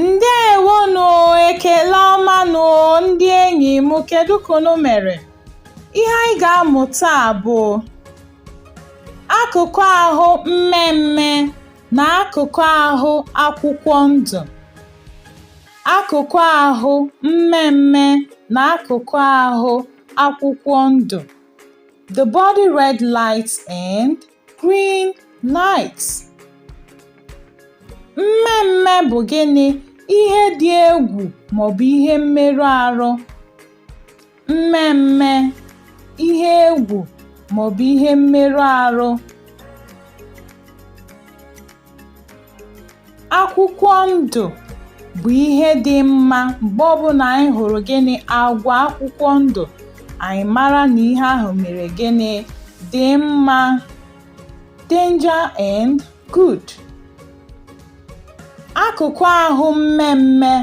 ndewonụ ekele ọma nụ ndị enyi m kedu ka unu mere ihe anyị ga-amụ taa bụ akụkụ ahụ mmee mmee na akụkụ ahụ akwụkwọ ndụ Akụkụ ahụ mmee mmee na akụkụ ahụ akwụkwọ ndụ The body red lights and green lights. Mmee mmee bụ gịnị? Ihe dị egwu maọbụ ihe mmerụ arụ. mmee mmee ihe egwu maọbụ ihe mmerụ arụ akwụkwọ ndụ bụ ihe dị mma mgbe ọbụla anyị hụrụ gịnị agwa akwụkwọ ndụ anyị mara na ihe ahụ mere gịnị dị mma danger and good akụkụ ahụ mmee mmee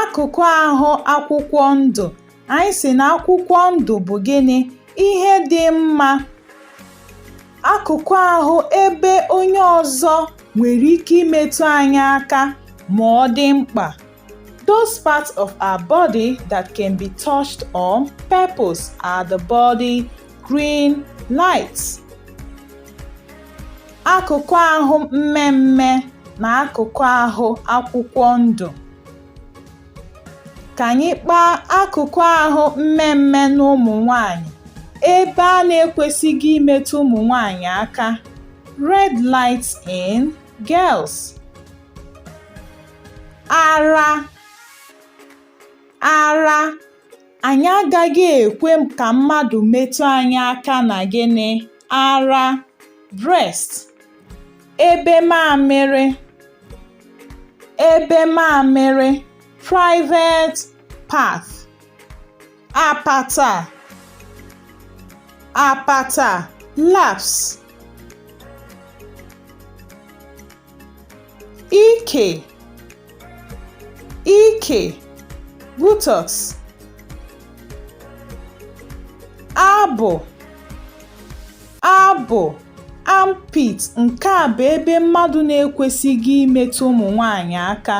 Akụkụ ahụ akwụkwọ ndụ, anyị sị na akwụkwọ ndụ bụ gịnị? Ihe dị mma. Akụkụ ahụ ebe onye ọzọ nwere ike imetụ anyị aka ma ọ dị mkpa Those parts of our body that can be touched on purpose are the body green lights. Akụkụ ahụ mmee mmee na akụkụ ahụ akwụkwọ ndụ. Ka anyị kpaa akụkụ ahụ mmee mmee na ụmụ nwanyị ebe a na-ekwesịghị imetụ ụmụ nwanyị aka. Red lights in girls. ara ara anyị agaghị ekwe ka mmadụ metụ anyị aka na gịnị ara breast ebe mamịrị ebe mamịrị private part apata apata laps ike ike buttocks abụ abụ armpit nke a bụ ebe mmadụ na-ekwesịghị imetụ ụmụ nwanyị aka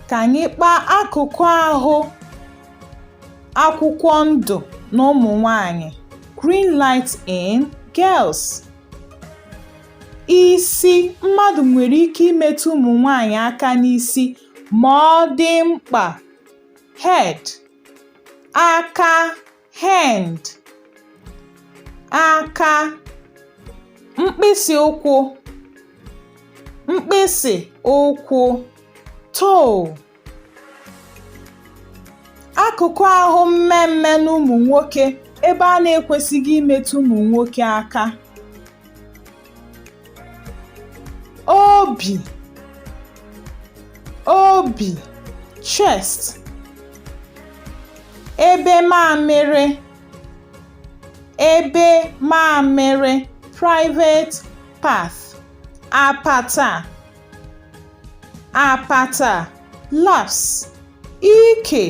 Ka anyị kpaa akụkụ ahụ akwụkwọ ndụ n'ụmụ nwanyị green light in girls. Isi mmadụ nwere ike imetụ ụmụ nwanyị aka n'isi ma ọ dị mkpa. Head, aka hand aka mkpịsị ụkwụ mkpịsị ụkwụ toe akụkụ ahụ mmee mmee n'ụmụ nwoke ebe a na-ekwesịghị imetụ ụmụ nwoke aka obi obi chest ebe mamịrị ebe mamịrị private part apata apata laps ike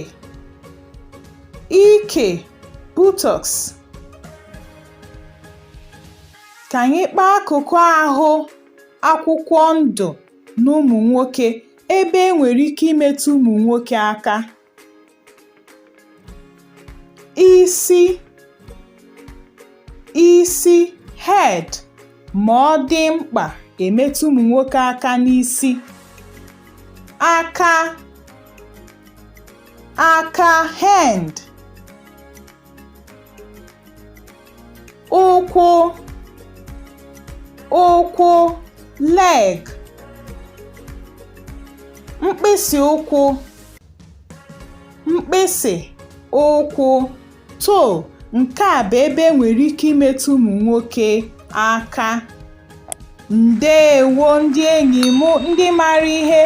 ike buttocks Ka anyị kpaa akụkụ ahụ akwụkwọ ndụ n'ụmụ nwoke ebe e nwere ike imetụ ụmụ nwoke aka. Isi isi head ma ọ dị mkpa e metụ ụmụ nwoke aka n'isi. Aka aka hand ụkwụ ụkwụ leg mkpịsị ụkwụ mkpịsị ụkwụ toe nke a bụ ebe e nwere ike imetụ ụmụ nwoke aka ndeewo ndị enyi m ndị mara ihe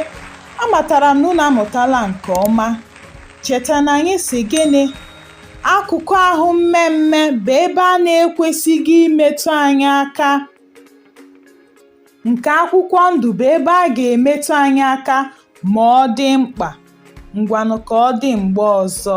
amatara m na unu amụtala nke ọma cheta na anyị si gịnị Akụkụ ahụ mmee mmee bụ ebe a na-ekwesịghị imetụ anyị aka. Nke akwụkwọ ndụ bụ ebe a ga-emetụ anyị aka ma ọ dị mkpa. Ngwanụ ka ọ dị mgbe ọzọ.